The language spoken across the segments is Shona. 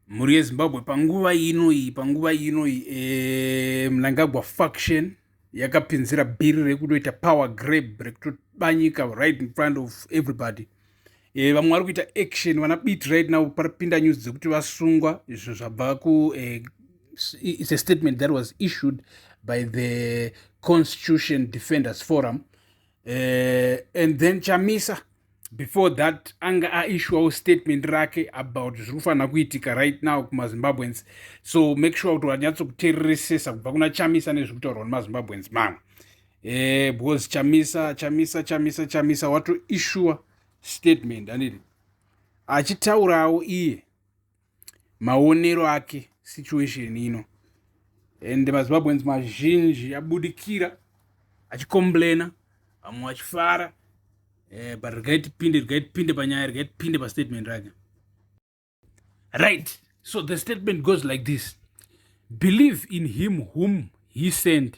mhuri yezimbabwe panguva ino iyi panguva ino iyi e, mnangagwa faction yakapinzira bhiri rekutoita power grab rekutoba nyika right in front of everybody e, vamwe vari kuita action vana bit right now paripinda news dzekuti vasungwa izvo zvabva ku e, it's a statement that was issued by the constitution defenders forum uh, and then chamisa before that anga aishuwawo statement rake about zviri kufanira kuitika right now kumazimbabweans so make sure kuti wanyatsokutereresesa kubva kuna chamisa nezviri kutaurwa nemazimbabweans mamwe eh, because chamisa chamisa chamisa chamisa watoishuwa statement anditi achitaurawo iye maonero ake situation ino and mazimbabweans mazhinji abudikira achicomplaina vamwe vachifara eh, but regai tipinde regai tipinde panyaya regai tipinde pastatement rake right so the statement goes like this believe in him whom he sent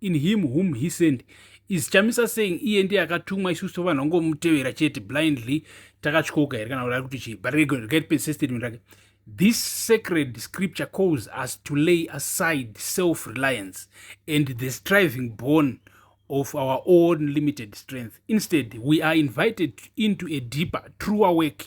in him whom he sent is chamisa saying iye ndiye akatumwa isusu tovanhu vangomutevera chete blindly takatyoka here kana kuti ari kuti chii but regaipese statement rake this sacred scripture calls us to lay aside self reliance and the striving born of our own limited strength instead we are invited into a deeper truer work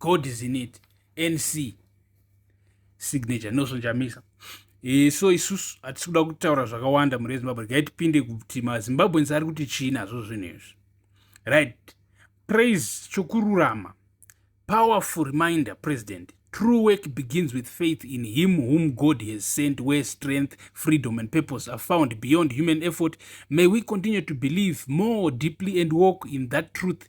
god is in it nc signature nelson chamisa e, so isusu hatisi kuda kutaura zvakawanda mhuri yezimbabwe regai tipinde kuti mazimbabwens ari kuti chii nazvo zvinhu izvi right praise chokururama powerful reminder president true work begins with faith in him whom god has sent where strength freedom and purpose are found beyond human effort may we continue to believe more deeply and walk in that truth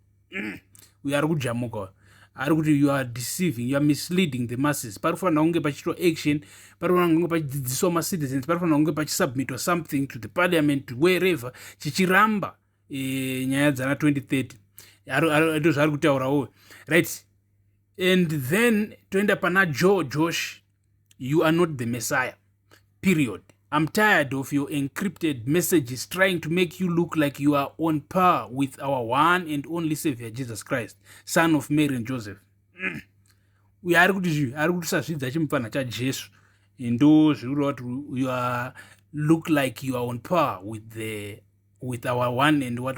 mm. uyo ari kujamuka uyo ari kuti you are deceiving you are misleading the masses pari kufanira kunge pachiitwa action pari kufanira kunge pachidzidziswa macitizens pari kufanira kunge pachisubmitwa something to the parliament wherever chichiramba e, nyaya dzana 2030 ndo zvaari kutaura uyo right and then toenda pana joe josh you are not the messiah period i'm tired of your encrypted messages trying to make you look like you are on par with our one and only savior jesus christ son of mary and joseph mm. uyo ari kuti zvi ari kuti usazvidza chimupfanha chajesu ndo zviri kureva kuti you are look like you are on par with the with our one and what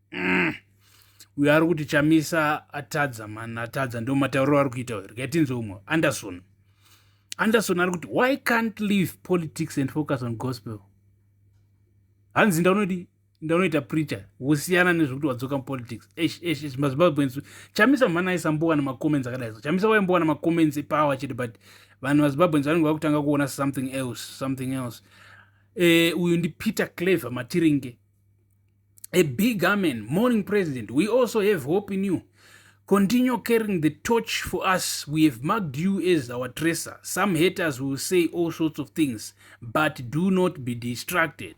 mm. uyo ari kuti chamisa atadza man atadza ndo matauriro ari kuita uyo regai tinzwe umwe anderson anderson ari kuti why can't leave politics and focus on gospel hanzi ndaunodi ndaunoita preacher wosiyana nezvekuti wadzoka mupolitics esh esh esh mazimbabweans chamisa mhani aisambowana macomments akadai so chamisa waimbowana macomments epower chete but vanhu vazimbabweans vanenge vakutanga kuona something else something else eh, uyu ndi peter clever matiringe a big amen morning president we also have hope in you continue carrying the torch for us we have marked you as our tracer some haters will say all sorts of things but do not be distracted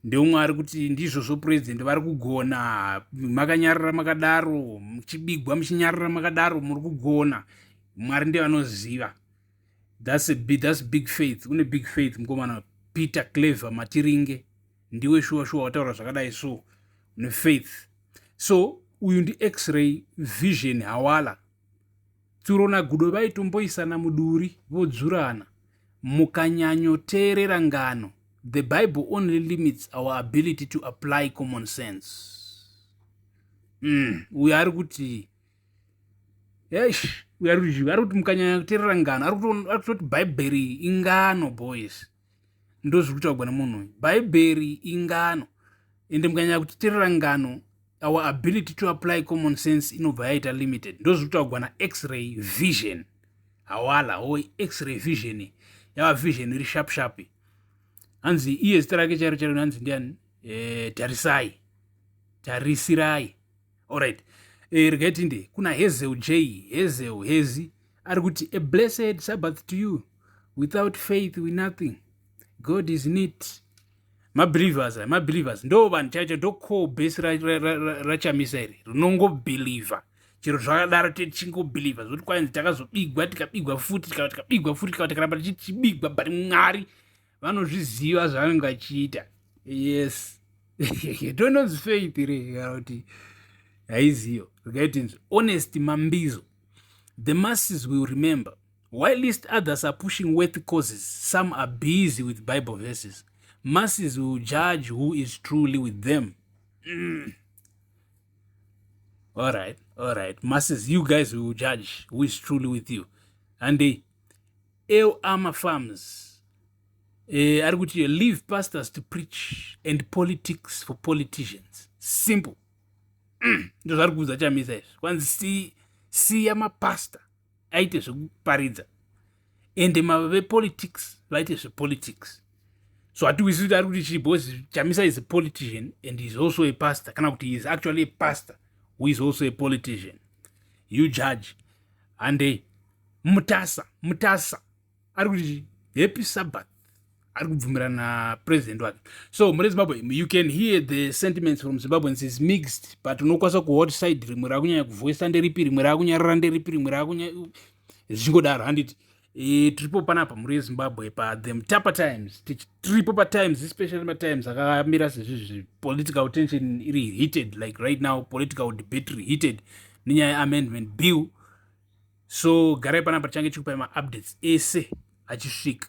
ndeumwe ari kuti ndizvozvo president vari kugona makanyarira makadaro muchibigwa muchinyarira makadaro muri kugona mwari ndevanoziva That's a big, that's big faith. Une big faith mkomana Peter Clever Matiringe. Ndiwe shuwa shuwa wataura zvakadai so. Une faith. So uyu ndi x-ray vision hawala. Tsuro na Gudo vaitomboisana muduri vodzurana. Mukanyanyo teerera ngano. The Bible only limits our ability to apply common sense. Mm, uyu ari kuti eish uyu ari kuti ari kuti mukanyanya kuteerera ngano ari kutoti bhaibheri ingano boys ndozviri kutaurwa nemunhu uyu bhaibheri ingano ende mukanyanya kutiterera ngano our ability to apply common sense inobva yaita limited ndozviri kutaurwa nax-ray vision hawala o x-ray vision yava vision iri sharp sharp hanzi iye zita rake chairo chairo hanzi ndiani eh, tarisai tarisirai Alright. Eh, regai tinde kuna Hazel J, Hazel Hezi ari kuti a blessed Sabbath to you. Without faith we nothing. God is in it. Mabelievers, eh, mabelievers ndo vanhu chaicho ndo core base rachamisa ra, ra, ra, iri rinongobeliever chero zvakadaro tichingobhilivha zvokuti kwainzi takazobigwa tikabigwa futi tikabigwa futi tikaba tikaramba tichibigwa but mwari vanozviziva zvavanenge vachiita yes tononzi faith re kana kuti haiziyo rikaitinzi honest mambizo the masses will remember while least others are pushing worth causes some are busy with bible verses masses will judge who is truly with them mm. all right all right masses you guys will judge who is truly with you and they El Ama Farms eh, ari kuti leave pastors to preach and politics for politicians simple mm, ndo zvari kuudza chamisa izvi kwanzi si, siya mapasta aite zvekuparidza ende mavepolitics vaite zvepolitics so hatiwisi kuti ari kuti chii because chamisa is a politician and is also a pastor kana kuti is actually a pastor who is also a politician you judge handei mutasa mutasa ari kuti happy sabbath ari kubvumirana napresident wake so mune zimbabwe you can hear the sentiments from zimbabweans is mixed but unokwanisa kuhot side rimwe rakunyanya kuvoisa nderipi rimwe rakunyarara nderipi rimwe rakunya zvichingodaro handiti e, tiripo panapa mhuri yezimbabwe pathe mutapa times tiripo patimes especially matimes akamira sezvizvi political tension iri heated like right now political debate reheated nenyaya yeamendment bill so garai panapa tichange tichikupai maupdates ese achisvika.